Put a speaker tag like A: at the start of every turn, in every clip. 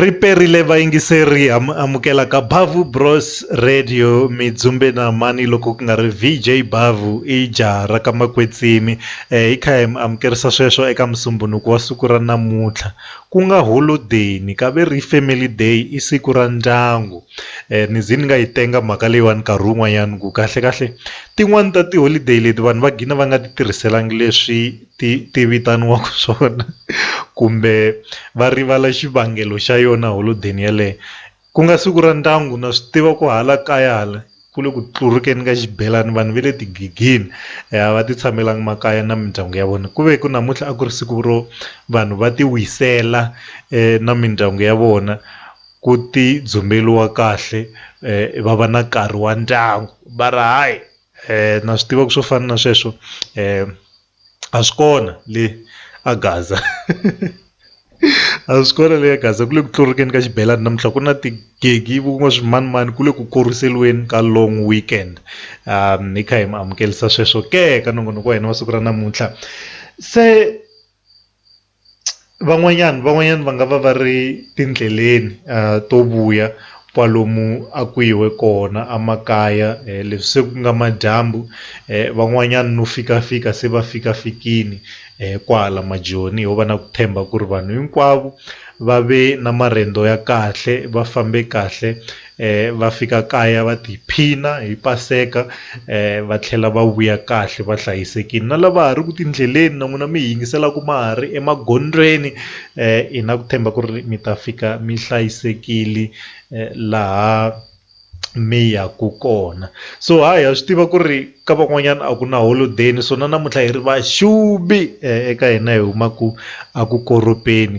A: Ri perile vayingiseri ha mi amukela ka Bhavhu Bros Radio mi dzumbe na mhani loko ku nga ri VJ Bhavhu i jaha ra ka Makwetsimi hi kha hi mi amukerisa sweswo eka musumbunuku wa siku ra namuntlha ku nga holodeni ka ve ri family day i siku ra ndyangu ni ze ni nga yi tenga mhaka leyiwani nkarhi wun'wanyani ku kahlekahle tin'wani ta tiholideyi leti vanhu va gina va nga ti tirhiselanga leswi. ti ti vitaniwaka swona kumbe va rivala xivangelo xa yona holodeni yaleyo ku nga siku ra ndyangu na swi tiva ku hala kaya hala ku le ku tlurikeni ka xibelani vanhu va le tigigini a va ti tshamelanga makaya na mindyangu ya vona ku ve ku namuntlha a ku ri siku ro vanhu va ti wisela na mindyangu ya vona ku ti dzumbeliwa kahle va va na nkarhi wa ndyangu va ri hayi. Eh, na swi tiva ku swo fana na sweswo eh, a swi kona le a gaza a swi kona le a gaza ku le ku tlurikeni ka xibelani namuntlha ku na tigegi kun'wa swimanimani ku le ku koriseliweni ka long weekend um hi kha hi mi amukelisa sweswo ke ka nongonoko wa hina wa siku ra namuntlha se van'wanyana van'wanyana va nga va va ri tindleleni to vuya kwalomu a ku yiwe kona a makaya leswi se ku nga madyambu van'wanyana no fika fika se va fika fikile kwala majoni ho va na ku tshemba ku ri vanhu hinkwavo va ve na marhendo ya kahle va fambe kahle. va fika kaya va tiphina hi paseka va tlhela va vuya kahle va hlayisekile na lava ha ri ku tindleleni na n'wina mi yingiselaka ma ha ri emagondzweni hi na ku tshemba ku ri mi ta fika mi hlayisekile laha mi yaka kona so ha ha swi tiva ku ri Ka van'wanyana a ku na holodeni so na namuntlha hi ri va xubi eka hina hi huma ku a ku koropeni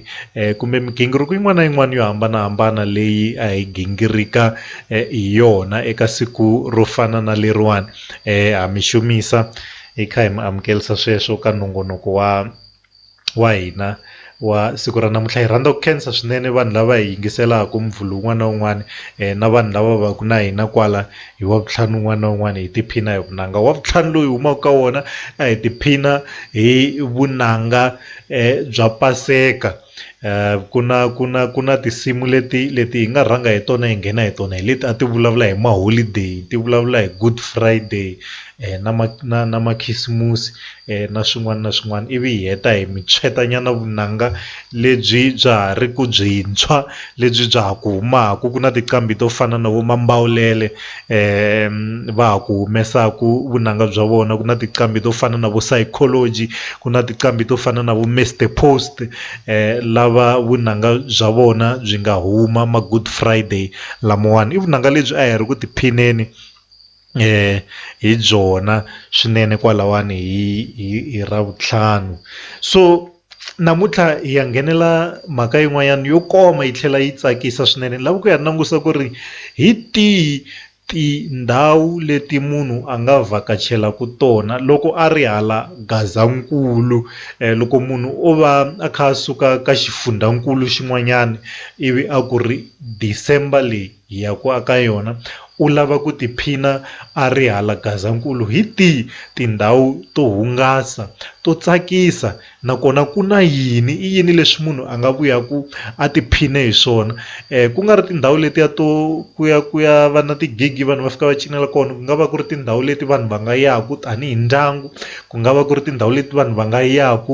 A: kumbe migingiriko yin'wana na yin'wana yo hambanahambana leyi a hi gingirika hi yona eka siku ro fana na leriwani ha mi xumisa hi kha hi mi amukelisa sweswo ka nongonoko wa. wa hina wa siku ra namuntlha hi rhandza ku khensa swinene vanhu lava hi yingiselaka Muvhulu wun'wana na wun'wana na vanhu lava va ku na hina kwala hi wa vutlhanu wun'wana na wun'wana hi tiphina hi vunanga wa vutlhanu loyi humaka ka wona a hi tiphina hi vunanga bya paseka ku na ku na ku na tinsimu leti leti hi nga rhanga hi tona hi nghena hi tona hi leti a ti vulavula hi ma holiday ti vulavula hi good friday na ma na na makhisimusi. na swin'wana na swin'wana ivi hi heta hi mi tshweta nyana vunanga lebyi bya ha ri ku byintshwa lebyi bya ha ku humaka ku na tinqambi to fana na vo Mambawulele va ha ku humesaka vunanga bya vona ku na tinqambi to fana na vo Sycology ku na tinqambi to fana na vo Mister Post lava vunanga bya vona byi nga huma ma Good Friday lamawani i vunanga lebyi a hi ri ku tiphineni. hi byona swinene kwalawani hi hi hi ravuntlhanu so namuntlha hi ya nghenela mhaka yin'wanyana yo koma yi tlhela yi tsakisa swinene ni lava ku ya langusa ku ri hi tihi tindhawu leti munhu a nga vhakachelaka tona loko a ri hala Gazankulu loko munhu o va a kha a suka ka xifundzankulu xin'wanyana ivi a ku ri December leyi. ya ku a ka yona u lava ku tiphina a ri hala Gazankulu hi tihi tindhawu to hungasa to tsakisa nakona ku na yini i yini leswi munhu a nga vuyaku a tiphine hi swona ku nga ri tindhawu letiya to ku ya ku ya va na ti-gig vanhu va fika va cinela kona ku nga va ku ri tindhawu leti vanhu va nga yaku tanihi ndyangu ku nga va ku ri tindhawu leti vanhu va nga yaku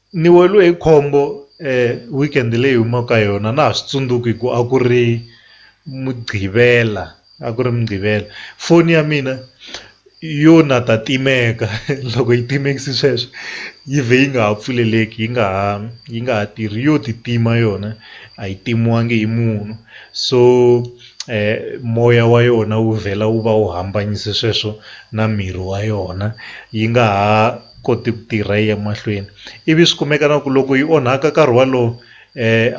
A: Ni weriwe hi khombo weekend leyi hi humaka ka yona a na ha swi tsundzuki hi ku a ku ri mugqivela a ku ri mugqivela foni ya mina yo na ta timeka loko yi timekise sweswo yi vhe yi nga ha pfuleleki yi nga ha yi nga ha tirhi yo ti tima yona a yi timiwanga hi munhu so moya wa yona wu vhela wu va wu hambanyisa sweswo na miri wa yona yi nga ha. koti ku tirha yi ya mahlweni ivi swi kumeka na ku loko yi onhaka nkarhi walowo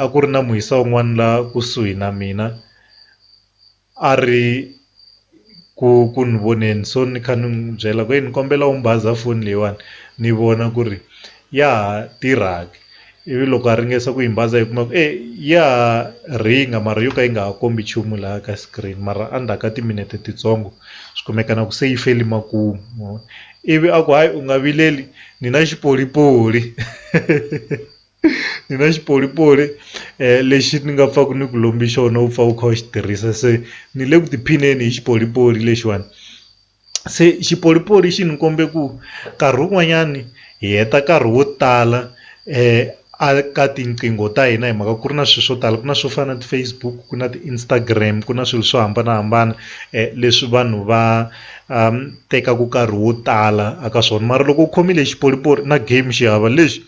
A: a ku ri na muhisa un'wana la kusuhi na mina a ri ku ku ni voneni so ni kha ni n'wi byela ku ni kombela u ni baza foni leyiwani ni vona ku ri ya ha tirha ke Ivi loko a ringesa ku yi mbaza yi kuma ku e ya ha rhinga mara yo ka yi nga ha kombi nchumu laha ka screen mara endzhaku ka timinete titsongo swi kumeka na ku se yi feli makumu ivi a ku hayi u nga vileli ni na xipolipoli ni na xipolipoli lexi ni nga pfaka ni ku lombi xona u pfa u kha u xi tirhisa se ni le ku tiphineni hi xipolipoli lexiwani Se xipolipoli xi ni kombe ku nkarhi wun'wanyani hi heta nkarhi wo tala a ka tinqingho ta hina hi mhaka ku ri na swilo swo tala ku na swo fana na ti-Facebook ku na ti-Instagram ku na swilo swo hambanahambana leswi vanhu va tekaka nkarhi wo tala eka swona mara loko u khomile xipolipoli na game xi hava lexi.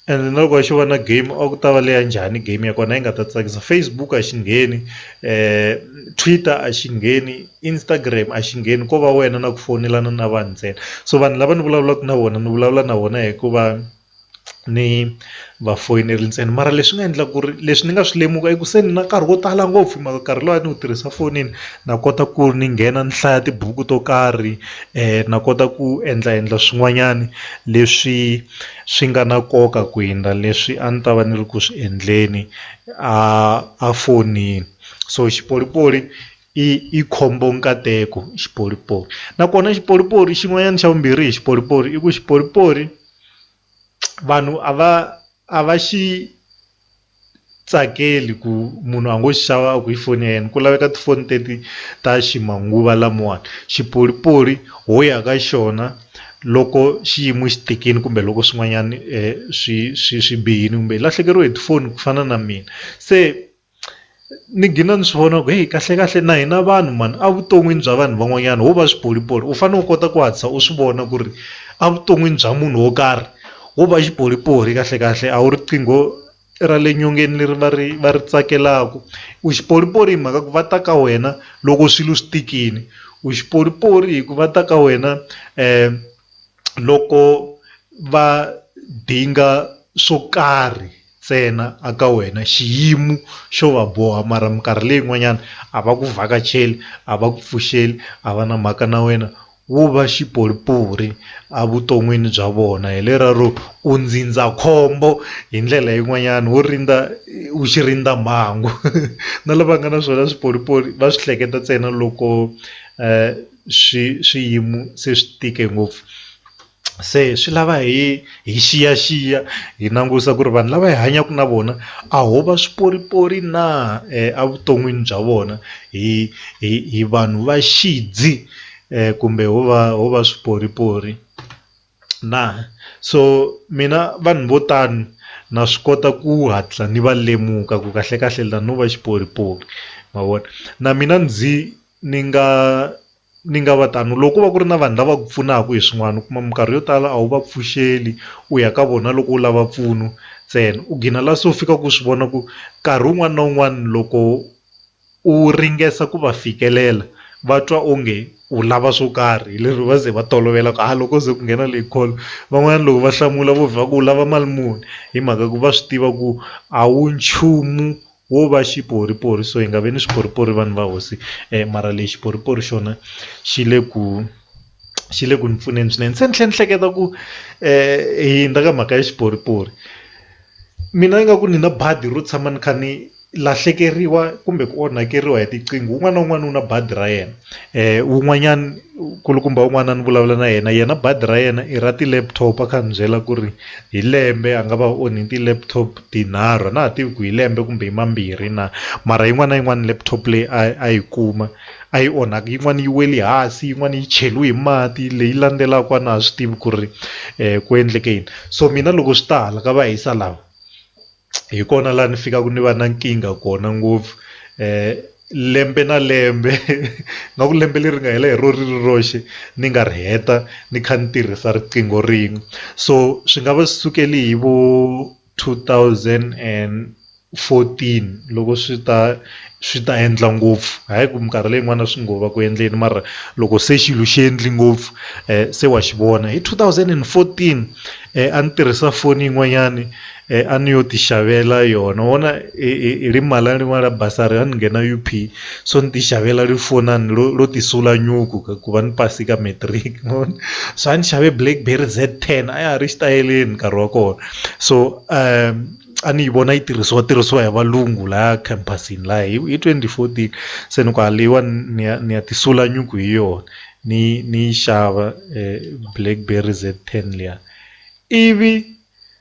A: Ene na loko a xi va na game a ku ta va leya njhani game ya kona yi nga ta tsakisa Facebook a xi ngheni Twitter a xi ngheni Instagram a xi ngheni ko va wena na ku foyinelana na vanhu ntsena so vanhu lava ni vulavulaka na vona ni vulavula na vona hikuva ni va foyinela ntsena mara leswi nga endla ku ri leswi ni nga swi lemuka i ku se ni na nkarhi wo tala ngopfu hi mhaka nkarhi lowu a ni wu tirhisa fonini na kota ku ni nghena ni hlaya tibuku to karhi na kota ku endla endla swin'wanyana leswi. swi nga na nkoka ku hundza leswi a ni ta va ni ri ku swi endleni a a fonini so xipolipoli i i khombo nkateko xipolipoli nakona xipolipoli xin'wanyana xa vumbirhi hi xipolipoli i ku xipolipoli vanhu a va a va xi. tsakeli ku munhu a ngo xi xava a ku hi foni ya yena ku laveka tifoni teti ta ximanguva lamawani xipolipoli ho ya ka xona loko xiyimo xi tikile kumbe loko swin'wanyani swi swi swi bihile kumbe hi lahlekeriwe hi tifoni ku fana na mina se. ni gina ni swi vona ku heyi kahle kahle na hina vanhu mhani a vuton'wini bya vanhu van'wanyana ho va swipolipoli u fanele u kota ku hatlisa u swi vona ku ri a vuton'wini bya munhu wo karhi wo va xipolipoli kahle kahle a wu riqingho ra le nyongeni leri va ri va ri tsakelaka u xipolipoli hi mhaka ku va ta ka wena loko swilo swi tikile u xipolipoli hi ku va ta ka wena loko va dinga swo karhi. ntsena a ka wena xiyimu xo va boha mara minkarhi leyi n'wanyana a va ku vhakacheli a va ku pfuxeli a va na mhaka na wena wo va xipolipori a vuton'wini bya vona hi lera ro u ndzindzakhombo hi ndlela yin'wanyana wo rindza u xi rindza mhangu na lava nga na swona swipolipoli va swi hleketa ntsena loko swi swiyimo se swi tike ngopfu. se swi lava hi hi xiyaxiya hi langusa ku ri vanhu lava hi hanyaka na vona a ho va swiporipori na evuton'wini bya vona hi hi hi vanhu va xidzi kumbe ho va ho va swiporipori na so mina vanhu vo tani na swi kota ku hatla ni va lemuka ku kahlekahle la no va xiporipori ma vona na mina ndzi ni nga Ni nga va tano loko ko va ku ri na vanhu lava ku pfunaka hi swin'wana u kuma minkarhi yo tala a wu va pfuxeli u ya ka vona loko u lava mpfuno ntsena u gina la se u fika ku swi vona ku nkarhi wun'wana na wun'wana loko u ringesa ku va fikelela va twa onge u lava swo karhi hi lero va ze va tolovela ku a loko ze ku nghena leyi call van'wana loko va hlamula vo vhela ku u lava mali muni hi mhaka ku va swi tiva ku a wu nchumu wo va xiporipori so hi nga vi ni swiporipori vanhu va hosi mara lexi xiporipori xona xi le ku xi le ku ni pfuneni swinene se ni tlhela ni hleketa ku hi hundza ka mhaka ya xiporipori mina ni nga ku ni na badi ro tshama ni kha ni lahlekeriwa kumbe ku onhakeriwa hi tiqingho un'wana na un'wana u na badi ra yena wun'wanyana nkulukumba wun'wana ni vulavula na yena yena badi ra yena i ra ti-laptop a kha a ni byela ku ri. hi lembe a nga va onhi ti laptop tinharhu a na ha tivi ku hi lembe kumbe hi mambirhi na mara yin'wana na yin'wana laptop leyi a a yi kuma a yi onhaka yin'wana yi wele hansi yin'wana yi cheliwe hi mati leyi landzelaka a na ha swi tivi ku ri ku endleke yini so mina loko swi ta hala ka va hisa lava. hi kona laha ni fikaka ni va na nkingha kona ngopfu lembe na lembe nga ku lembe leri nga hela hi ro ri ri roxe ni nga ri heta ni kha ni tirhisa riqingho rin'we so swi nga va sukele hi vo two thousand and fourteen loko swi ta swi ta endla ngopfu hayi ku minkarhi leyi yin'wana swi ngo va ku endleni mara loko se xilo xi endli ngopfu se wa xi vona hi two thousand and fourteen a ni tirhisa foni yin'wanyani. a ni yo ti xavela yona wona hi ri mali ni mali ya bazari a ni nghena U_P so ni ti xavela ri foni ro ti sula nyuku ku va ni pasi ka matric ma vona so a ni xave blackberry Z ten a ya ha ri xitayeleni nkarhi wa kona so a ni yi vona yi tirhisiwa tirhisiwa hi valungu laya khampasini laya hi hi twenty fourteen se ni ku a leyiwani ni ya ni ya ti sula nyuku hi yona ni yi ni yi xava blackberry Z ten liya ivi.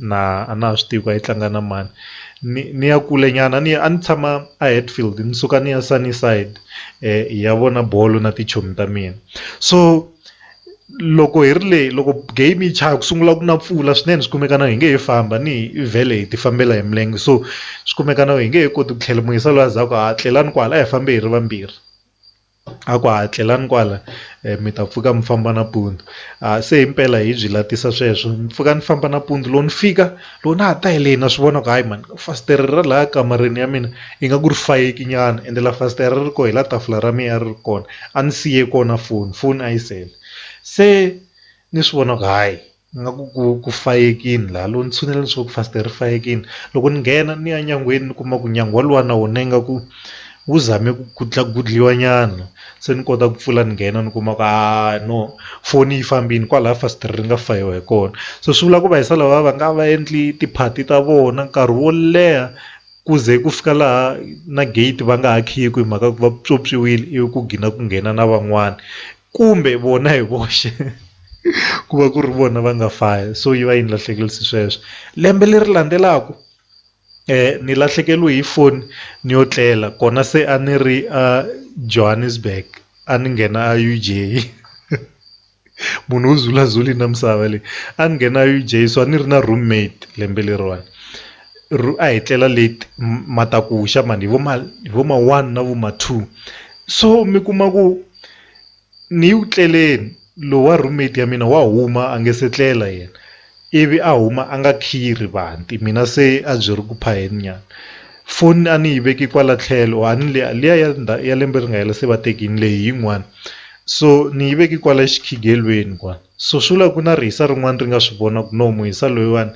A: na a na ha swi tivi ku a yi tlanga na mani ni ni ya kule nyana a ni a ni tshama a Hatfield ni suka ni ya Sunnyside hi ya vona bolo na tichomi ta mina so loko hi ri leyi loko game yi chaya ku sungula ku na mpfula swinene swi kumeka na hi nge he famba ni hi vhele hi ti fambela hi milenge so swi kumeka na hi nge he koti ku tlhela moyisa loyi a za ku ha tlelani kwala a hi fambi hi ri vambirhi a ku ha tlelani kwala mi ta pfuka mi famba nampundzu se himpela hi byi latisa sweswo ni pfuka ni famba nampundzu loko ni fika loko na ha ta hi leyi na swi vona ku hayi mhani fasitere ra laha kamareni ya mina ingaku ri fayeki nyana ende la fasitere ri koho hi la tafula ra mina a ri ri kona a ni siye kona foni foni a yi sele se ni swi vona ku hayi. nga ku ku ku fayekini laha loko ni tshinela leswaku fasitere ri fayekile loko ni nghena ni ya nyangweni ni kuma ku nyangu wa luwa na wona ingaku wu zame ku ku gudliwa nyana se ni kota ku pfula ni nghena ni kuma ku haa no foni yi fambini kwalaya fasitere ri nga fayiwa hi kona so swi vula ku va hisa lava va nga va endli tiphati ta vona nkarhi wo leha ku ze ku fika laha na gate va nga ha khiyi hi mhaka ku va pyopyiwile ivi ku gina ku nghena na van'wani. kumbe vona hi voxe ku va ku ri vona va nga faya so yi va yi ni lahlekerise sweswo lembe leri landzelaka ni lahlekeriwe hi foni ni yo tlela kona se a ni ri a Johannesburg a ni nghena a U_J munhu u zula zuli na misava leyi a ni nghena U_J so a ni ri na room mate lembe leriwani ro a hi tlela leti matakuxa mhani hi vo ma hi vo ma one na vo ma two so mi kuma ku. ni yi ku tleleni lowa roommate ya mina wa huma a nge se tlela yena ivi a huma a nga khiyi rivanti mina se a byi ri ku phayeni nyana foni a ni yi veke kwala tlhelo a ni liya liya ya ya lembe ri nga hela se va tekini leyi yin'wani so ni yi veke kwala xikhigelweni kwala so swi vula ku na rihisa rin'wana ri nga swi vona ku no muhisa loyiwani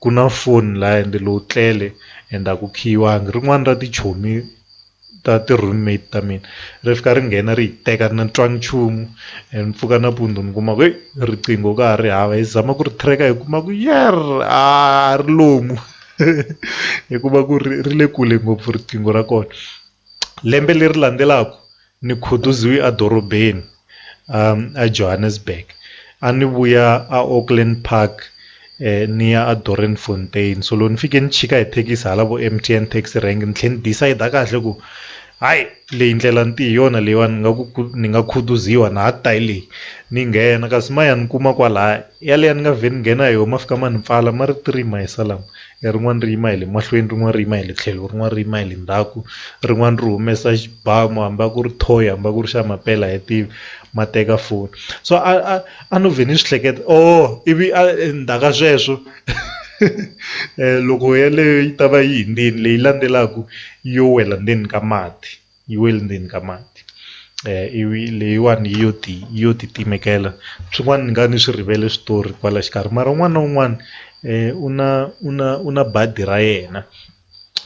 A: ku na foni laya ende lowu tlele ende a ku khiyiwangi rin'wani ra tichomi. ta ti room mate ta mina ri fika ri nghena ri yi teka ni twa nchumu and mpfuka nampundzu ni kuma ku heyi riqingho ka ha ri hava hi zama ku ri tracker hi kuma ku yerr a ri lomu hi kuma ku ri ri le kule ngopfu riqingho ra kona lembe leri landzelaka ni khutuziwe edorobeni. eJohannesburg a ni vuya a Auckland Park ni ya a Doornfontein so loko ni fike ni chika hi thekisi hala vo M_T_N taxi rank ni tlhela ni decide kahle ku hayi leyi ndlela ni te hi yona leyiwani nga ku ni nga khutuziwa na ha ku ta hi leyi ni nghena kasi ma ya ni kuma kwalaya yaleyo ni nga vhe ni nghena hi yona ma fika ma ni pfala ma ri three mayisa lama. rin'wana ri yima hi le mahlweni rin'wana ri yima hi le tlhelo rin'wana ri yima hi le ndzhaku rin'wana ri humesa xibamu hambi a ku ri thoyi hambi a ku ri xa mampela a hi tivi ma teka foni so a a a no vhe ni swi hleketa ooh ivi a endzhaku ka sweswo loko yeleyo yi ta va yi hundzile leyi landzelaka yo wela ndzeni ka mati. yi wele ndzeni ka mati ivi leyiwani yi yo ti yi yo ti timekela swin'wana ni nga ni swi rivele switori kwala xikarhi mara un'wana na un'wana u na u na u na badi ra yena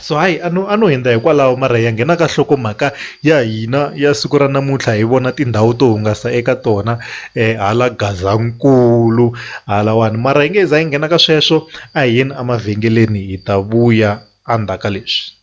A: so hayi a no a no hundza hikwalaho mara ya nghena ka nhlokomhaka ya hina ya siku ra namuntlha hi vona tindhawu to hungasa eka tona hala Gazankulu halawani mara hi nge he za hi nghena ka sweswo a hi yeni emavhengeleni hi ta vuya endzhaku ka leswi.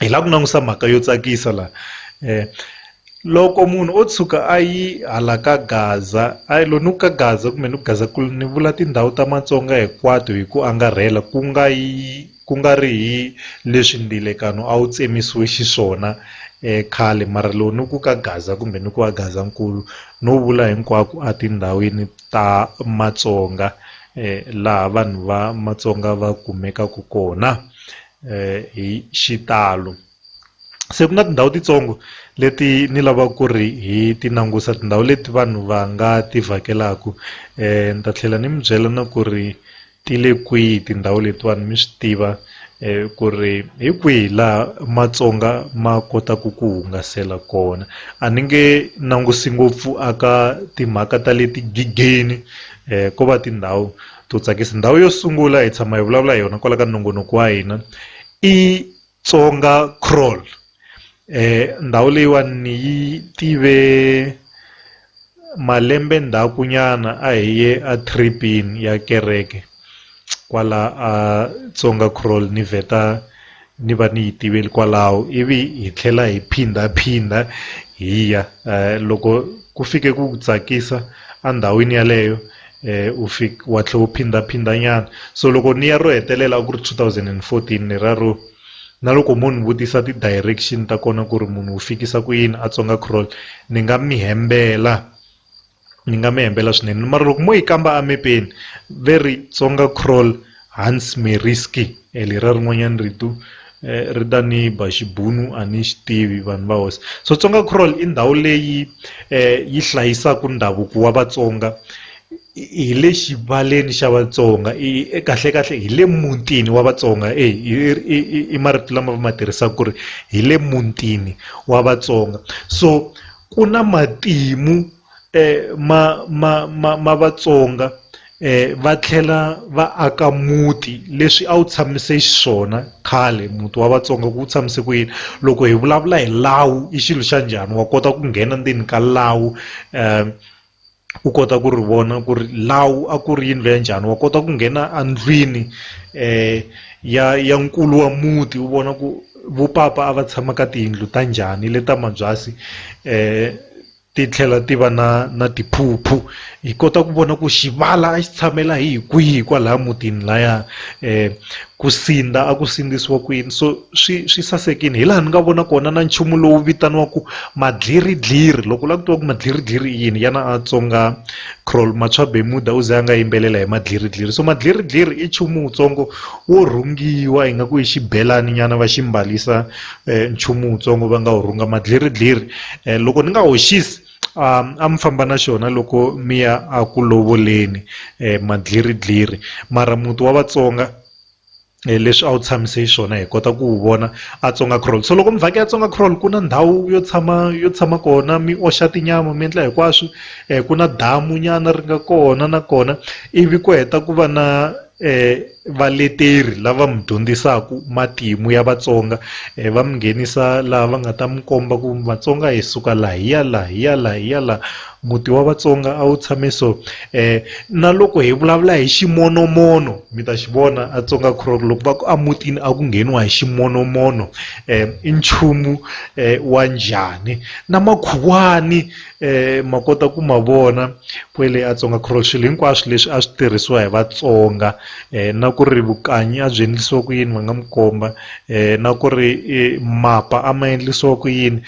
A: hi lava ku langusa mhaka yo tsakisa la loko munhu o tshuka a yi hala ka Gaza a yi lo ni ku ka Gaza kumbe ni ku Gaza ku ni vula tindhawu ta Matsonga hinkwato hi ku angarhela ku nga yi ku nga ri hi leswi ndilekano a wu tsemisiwe xiswona khale mara lowu ni ku ka Gaza kumbe ni ku va Gazankulu no vula hinkwako a tindhawini ta Matsonga laha vanhu va Matsonga va kumekaka kona. hi xitalo se ku na tindhawu titsongo leti ni lavaka ku ri hi ti langusa tindhawu leti vanhu va nga ti vhakelaka ni ta tlhela ni mi byela na ku ri ti le kwihi tindhawu letiwani mi swi tiva ku ri hi kwihi laha Matsonga ma kotaka ku hungasela kona a ni nge langusi ngopfu a ka timhaka ta le tigigeni ko va tindhawu. to tsakisa ndhawu yo sungula hi tshama hi vulavula hi yona kwala ka nongonoko wa hina i Tsonga Crawl eh ndhawu leyiwani ni yi tive malembe ndzhaku nyana a hi ye a tripini ya kereke kwala a Tsonga Crawl ni vheta ni va ni yi tivile kwalaho ivi hi tlhela hi phindha-phindha hi ya loko ku fike ku ku tsakisa endhawini yaleyo u fika wa tlhela u phindha-phindha nyana so loko ni ya ro hetelela a ku ri two thousand and fourteen ni rero na loko mo ni vutisa ti-direction ta kona ku ri munhu wu fikisa ku yini a Tsonga Crawl ni nga mi hembela. Ni nga mi hembela swinene mara loko mo yi kamba a mepeni ve ri Tsonga Krol Hans Meriski leriya rin'wanyana rito ri ta ni ba xibunu a ni xi tivi vanhu va hosi so Tsonga Krol i ndhawu leyi yi hlayisaka ndhavuko wa Vatsonga hi le xivaleni xa Vatsonga i kahle kahle hi le mutini wa Vatsonga e i marito lama va ma tirhisaka ku ri hi le mutini wa Vatsonga so. ku na matimu ma ma ma ma Vatsonga va tlhela va aka muti leswi a wu tshamise xiswona khale muti wa Vatsonga ku wu tshamise ku yini loko hi vulavula hi lawu i xilo xa njhani wa kota ku nghena ndzeni ka lawu . u kota ku ri vona ku ri lawu a ku ri yindlu ya njhani wa kota ku nghena a ndlwini ya ya nkulu wa muti u vona ku vo papa a va tshama ka tiyindlu ta njhani le ta mabyasi ti tlhela ti va na na tiphuphu hi kota ku vona ku xivala a xi tshamela hi hi kwihi kwalaya mutini laya ku sindza a ku sindzisiwa kwini so. swi swi sasekile hi laha ni nga vona kona na nchumu lowu vitaniwaka madliridliri loko u lava ku tiva ku madliridliri i yini yana a tsonga Croll Matswa Bemuda u ze a nga yimbelela hi madliridliri so madliridliri i nchumu wutsongo wo rhungiwa hi nga ku i xibelani nyana va xi mbarisa nchumu wutsongo va nga wu rhunga madliridliri loko ni nga hoxisi a mi famba na xona loko mi ya a ku lovoleni madliridliri mara muti wa Vatsonga. leswi a wu tshamise xiswona hi kota ku wu vona a Tsonga Crawl so loko mi vhakela Tsonga Crawl ku na ndhawu yo tshama yo tshama kona mi oxa tinyama mi endla hinkwaswo ku na damu nyana ri nga kona nakona ivi ku heta ku va na valeteri lava mi dyondzisaka matimu ya Vatsonga va mi nghenisa laha va nga ta mi komba ku Vatsonga hi suka laha hi ya laha hi ya laha hi ya laha. Muti wa Vatsonga a wu tshame so eh na loko hi vulavula hi ximonomono mi ta xi vona a Tsonga Crook loko va ku a mutini a ku ngheniwa hi ximonomono eh i nchumu eh, wa njhani na makhuwani eh ma kota ku ma vona kwele a Tsonga Crook swilo hinkwaswo leswi a swi tirhisiwa hi Vatsonga eh na ku ri vukanyi a byi endlisiwa ku yini va nga mi komba eh na ku ri mapa a ma endlisiwa ku yini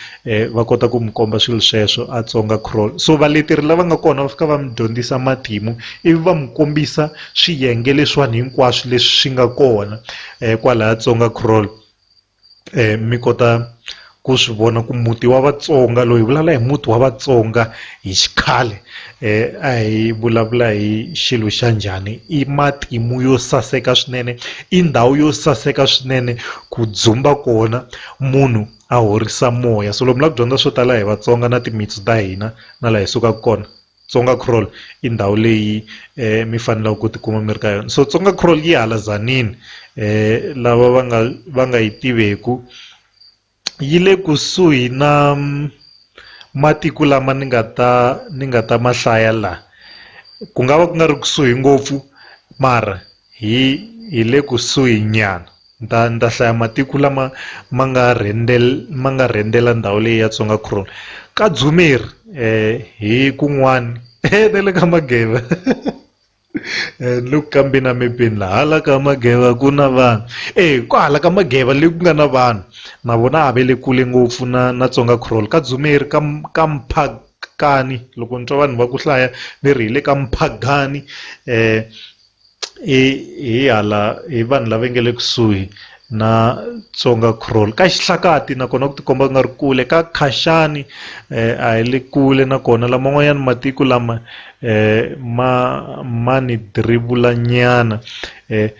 A: va kota ku mi komba swilo sweswo a tsonga crawl so valeteri lava nga kona va fika va mi dyondzisa matimu ivi va mi kombisa swiyenge leswiwani hinkwaswo leswi swi nga kona um kwalaya tsonga crawl um mi kota ku swi vona ku muti wa vatsonga loyi hi vulavula hi muti wa vatsonga hi xikhale um a hi vulavula hi xilo xa njhani i matimu yo saseka swinene i ndhawu yo saseka swinene ku dzumba kona munhu. a horisa moya so lomu la ku dyondza swo tala hi Vatsonga na timitsu ta hina na laha hi sukaka kona Tsonga Crawl i ndhawu leyi eh, mi fanelaka ku tikuma mi ri ka yona so Tsonga Crawl yi hala Tzaneen eh, lava va nga va nga yi tiveku yi le kusuhi na mm, matiko lama ni nga ta ni nga ta mahlaya la ku nga va ku nga ri kusuhi ngopfu mara hi hi le kusuhi nyana Ni ta, ni ta hlaya matiko lama ma nga rhendel, ma nga rhendela ndhawu leyi ya Tsonga Kron. Ka Dzumeri eh, hi kun'wani eh, na le ka Mageva eh, ni le ku kambeni na mepeni la hala ka Mageva ku na vanhu eh, ku hala ka Mageva le ku nga na vanhu na vona a ve le kule ngopfu na, na Tsonga Kron. Ka Dzumeri ka, ka Mphakani loko ni twa vanhu va ku hlaya ve ri hi le ka Mphagani eh, hi hi hala hi vanhu lava nga le kusuhi na Tsonga Crawl ka xihlakati nakona ku tikomba ku nga ri kule ka Khashani eh, a hi le kule nakona lama n'wanyana matiko lama eh, ma ma ni dribula nyana eh,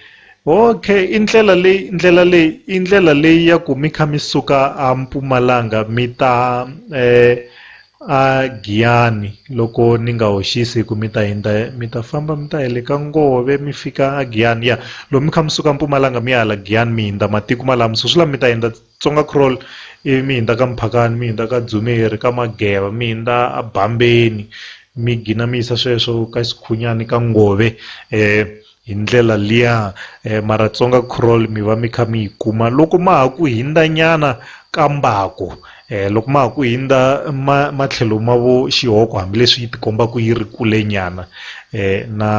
A: okay i ndlela leyi ndlela leyi i ndlela leyi ya ku mi kha mi suka a mpumalanga mi ta eh, A Giyani, loko ni nga hoxisi, hi ku mi ta hindza, mi ta famba mi ta ya le ka ngove, mi fika a Giyani, ya, lomu mi kha mi suka mpumalanga mi ya hala Giyani, mi hindza matiko malamu, Susulam mi ta hindza Tsonga-Krol, ivi mi hindza ka Mphakani, mi hindza ka Dzumeri, ka Mageva, mi hindza a Bambeni, mi gina mi yisa sweswo ka Xikhunyani, ka Ngove, eh, Hi ndlela liya, Maratsonga Crawl mi va mi kha mi yi kuma loko ma ha ku hindza nyana ka mbako loko ma ha ku hindza ma matlhelo ma vo xihoko hambileswi yi ti kombaka yi ri kule nyana na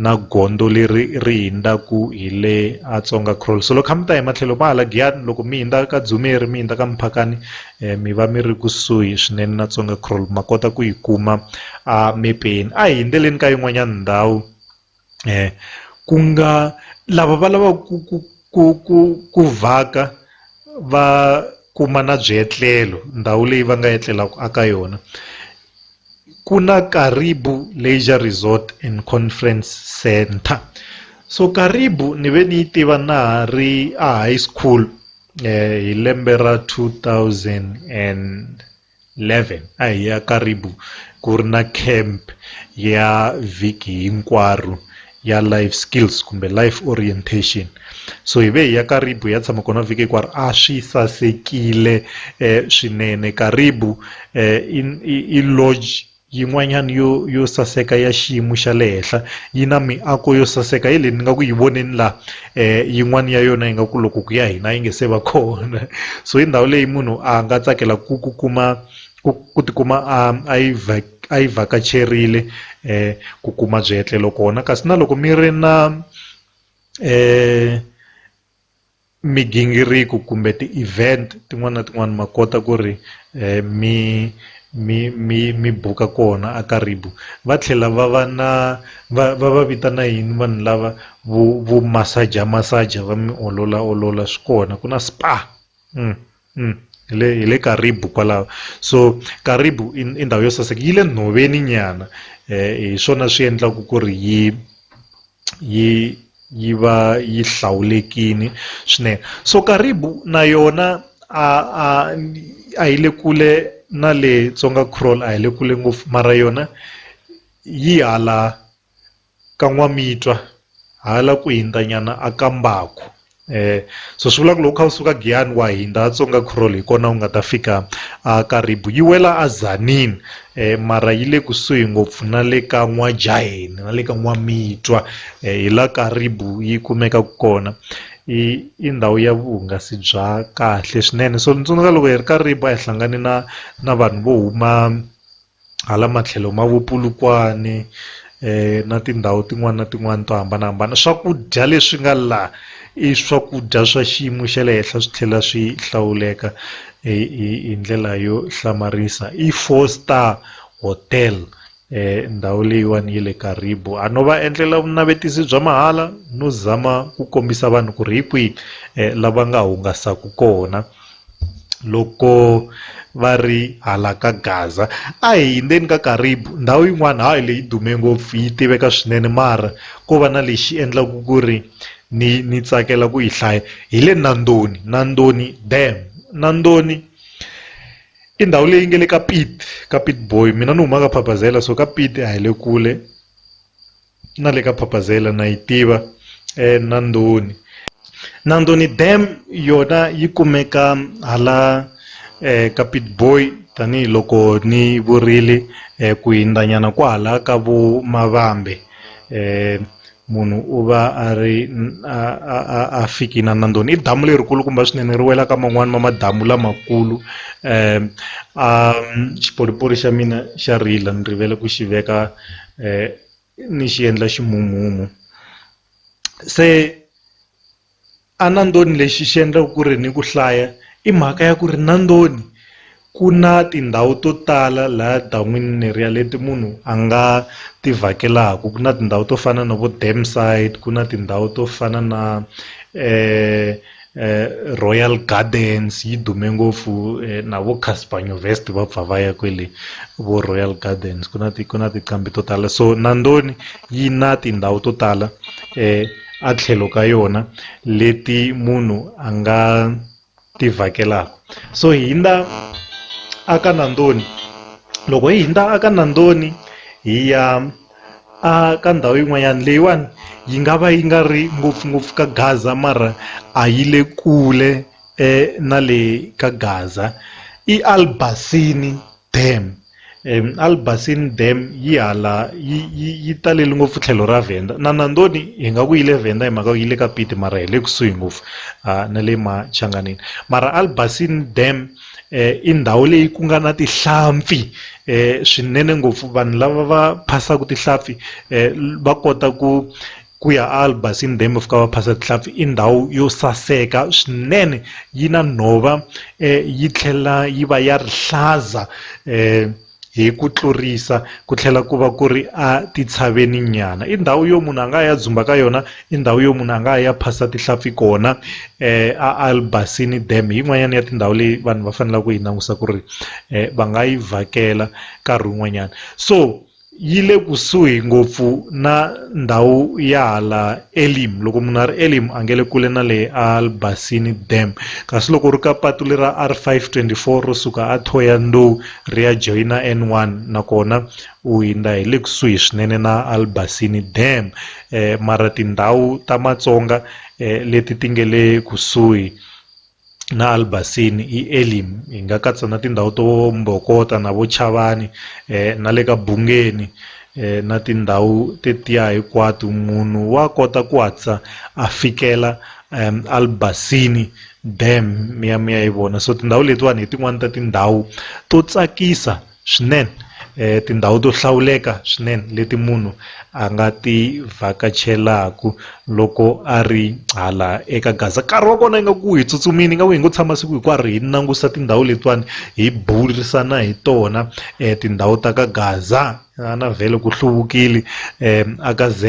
A: na gondzo leri ri hindzaku hi le a Tsonga Crawl so loko kha mi ta hi matlhelo ma hala giyani loko mi hindza ka Dzumeri mi hindza ka Muphakani mi va mi ri kusuhi swinene na Tsonga Crawl ma kota ku yi kuma a mepeni a hi hindzeleni ka yin'wanyana ndhawu. ku nga lava va lava ku ku ku ku ku vhaka va kuma na byetlelo ndhawu leyi va nga etlelaka a ka yona ku na Karibu leisure resort and conference centre so Karibu ni ve ni yi tiva na ha ri a high school hi lembe ra two thousand and. 11 a hi ya Karibou ku ri na camp ya vhiki hinkwaro ya life skills kumbe life orientation so hi ve hi ya Karibou ya tshama kona vhiki hinkwaro a swi sasekile eh, swinene Karibou eh, i lodge Yin'wanyana yo yo saseka ya xiyimo xa le henhla yi na miako yo saseka hi leyi ni nga ku yi voneni la yin'wana ya yona yi nga ku loko ku ya hina yi nge se va kona so hi ndhawu leyi munhu a nga tsakela ku ku kuma ku ku tikuma a a yi a yi vhakacherile ku kuma byetlelo kona kasi na loko mi ri na . migingiriko kumbe ti event tin'wana na tin'wana ma kota ku ri mi mi mi mi buka kona a Karibu va tlhela va va na va va va vitana yini vanhu lava vo vo masaja masaja va mi olola olola swi kona ku na spa. hi le hi le Karibu kwalaho so Karibu i i ndhawu yo saseka yi le nhoveni nyana hi swona swi endlaka ku ri yi yi yi va yi hlawulekile swinene so Karibu na yona a a a yi le kule na le Tsonga crawl a hi le kule ngopfu mara yona yi hala. ka N'wamitwa hala ku hindza nyana a ka Mbaku so swi vula ku loko kha u suka Giyani wa hindza a Tsonga Crawl hi kona u nga ta fika a Karibu yi wela a Tzaneen mara yi le kusuhi ngopfu na le ka N'wajaheni na le ka N'wamitwa hi la Karibu yi kumeka kona i i ndhawu ya vuhungasi bya kahle swinene so ni tsundzuka loko hi ri Karibu a hi hlangane na na vanhu vo huma. hala matlhelo ma vo Polokwane na tindhawu tin'wana na tin'wana to hambanahambana swakudya leswi nga la i swakudya swa xiyimo xa le henhla swi tlhela swi hlawuleka hi ndlela yo hlamarisa i four star hotel ndhawu leyiwani ya le Karibo a no va endlela vunavetisi bya mahala no zama ku kombisa vanhu ku ri hi kwihi lava nga hungasaka kona. loko va ri hala ka Gaza a hi hundzeni ka Karibu ndhawu yin'wana hayi leyi dume ngopfu yi tiveka swinene mara ko va na lexi endlaka ku ri ni ni tsakela ku yi hlaya hi le Nandoni Nandoni dam Nandoni i ndhawu leyi nga le ka Piet ka Pietboi mina ni huma ka Phapazela so ka Piet a hi le kule na le ka phapazela na yi tiva eNandoni Nandoni dam yona yi kumeka hala ka Pietboi tanihiloko ni vurile ku hindzanyana kwahala ka vo Mavambe munhu u va a ri a fiki na Nandoni i damu leri kulukumba swinene ri wela ka man'wani ma madamu lamakulu a xipolipoli xa mina xa rila ni rivele ku xi veka. ni xi endla ximumu se a na ndzoni lexi xi endlaka ku ri ni ku hlaya i mhaka ya ku ri na ndzoni ku na tindhawu to tala laha dan'wini ni ri ya leti munhu a nga ti vhakelaka ku na tindhawu to fana na vo dam side ku na tindhawu to fana na . Royal Gardens yi dume ngopfu na vo Casper Nyovest va pfa va ya kwele vo Royal Gardens ku na ti ku na tinqambi to tala so Nandoni yi na tindhawu to tala a tlhelo ka yona leti munhu a nga ti vhakelaka so hi hindza a ka Nandoni loko hi hindza a ka Nandoni hi ya. A ka ndhawu yin'wanyana leyiwani yi nga va yi nga ri ngopfungopfu ka Gaza mara a yi le kule na le ka Gaza i Al Basini Dam Al Basini Dam yi hala yi yi yi talele ngopfu tlhelo ra Venda na Nandoni hi nga ku yi le Venda hi mhaka yi le ka Pieteman mara hi le kusuhi ngopfu na le Machanganini mara Al Basini Dam. i ndhawu leyi ku nga na tihlampfi swinene ngopfu vanhu lava va phasaka tihlampfi va kota ku ku ya albasini dam va fika va phasa tihlampfi i ndhawu yo saseka swinene yi na nhova yi tlhela yi va ya rihlaza . Hi ku tlurisa, ku tlhela ku va ku ri a titshaveni-nyana. I ndhawu yo munhu a nga ya dzumba ka yona, i ndhawu yo munhu a nga ya phasa tihlampfi kona. A Albasini Dam hi yin'wanyana ya tindhawu leyi vanhu va faneleke ku yi langusa ku ri va nga yi vhakela nkarhi wun'wanyana. So yi le kusuhi ngopfu na ndhawu ya hala Elim. Loko munhu a ri Elim a nge le kule na le Albasini Dam. Kasi loko u ri ka patu lera R524 ro suka a Thohoyandou, ri ya joyina N1 nakona u hundza hi le kusuhi swinene na Albasini Dam mara tindhawu ta Matsonga leti ti nge le kusuhi na Albasini i Elim hi nga katsa na tindhawu to Mbokota na vo Chavani na le ka Bungeni na tindhawu tetiya hinkwato munhu wa kota ku hatlisa a fikela Albasini dam mi ya mi ya yi vona so tindhawu letiwani hi tin'wani ta tindhawu to tsakisa swinene tindhawu to hlawuleka swinene leti munhu a nga ti vhakachelaku loko a ri hala eka gaza nkarhi wa kona ingaku hi tsutsumini ingaku hi ngo tshama siku hinkwaro hi langusa tindhawu letiwani hi burisana hi tona tindhawu ta ka gaza. A na vhele ku hluvukile a ka Z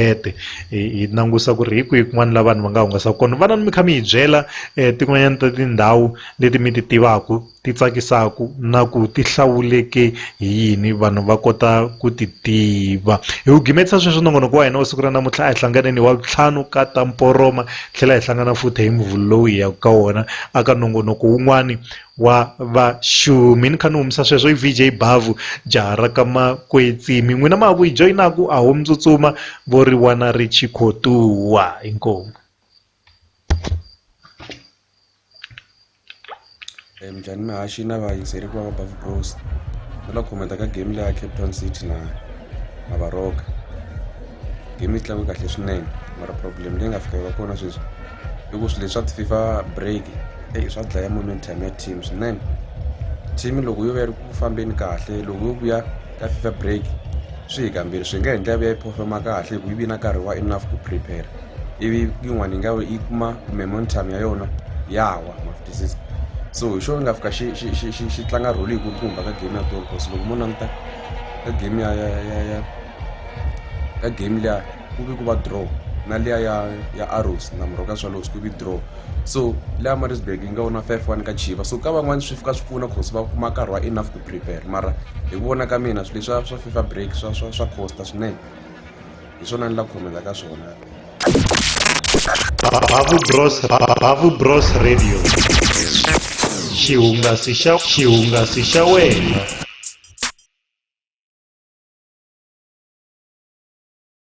A: hi langusa ku ri hi kwihi kun'wana la vanhu va nga hungasa kona vana ni mi kha mi hi byela tin'wanyana ta tindhawu leti mi ti tivaka ti tsakisaka na ku ti hlawuleke hi yini vanhu va kota ku ti tiva hi wu gimetisa sweswi nongonoko wa hina wa siku ra namuntlha a hi hlanganeni wa vutlhanu ka ta mporoma tlhela hi hlangana futhi hi muvhulu lowu hi yaka ka wona a ka nongonoko wun'wani wa vaxumi ni kha ni humisa sweswo i VJ Bhavhu jaha ra ka Makwetsimi n'wina ma ha ku yi joyinaku a ho mi tsutsuma vo ri wana ri chikhotuwa inkomu
B: Eh, mjani mihashi na vayingiseri ku va va bavu bros va la khometa ka game leya cape town city na na varoka game yi tlakuke kahle swinene mara problem leyi nga fika yi va kona sweswi i ku swilo leswa ti-fifa break eyi swa dlaya momentum ya team swinene team loko yo va yi ri ku fambeni kahle loko yo vuya ka fifa break swi hi kambirhi swi nga endla ya vuya yi performa kahle hi ku yi vi na nkarhi wa enough ku prepare ivi yin'wana yi nga yi kuma momentum ya yona ya wa mafutisiso so hi xona nga fika xi xi xi xi xi tlanga rholi yi kulukumba ka game ya goal course loko mo languta ka game ya ya ya ya ka game liya ku vi ku va draw na liya ya ya arrows na murho ka swalows ku vi draw so leya marisburg yi nga wona five one ka chiva so ka van'wani swi fika swi pfuna cause va kuma nkarhi wa enough ku prepare mara hi ku vona ka mina swilo leswa swa fifa break swa swa swa costa swinene hi swona ni la khomela ka swona Babu
A: Bros Babu Bros Radio xihungasi xa xihungasi xa wena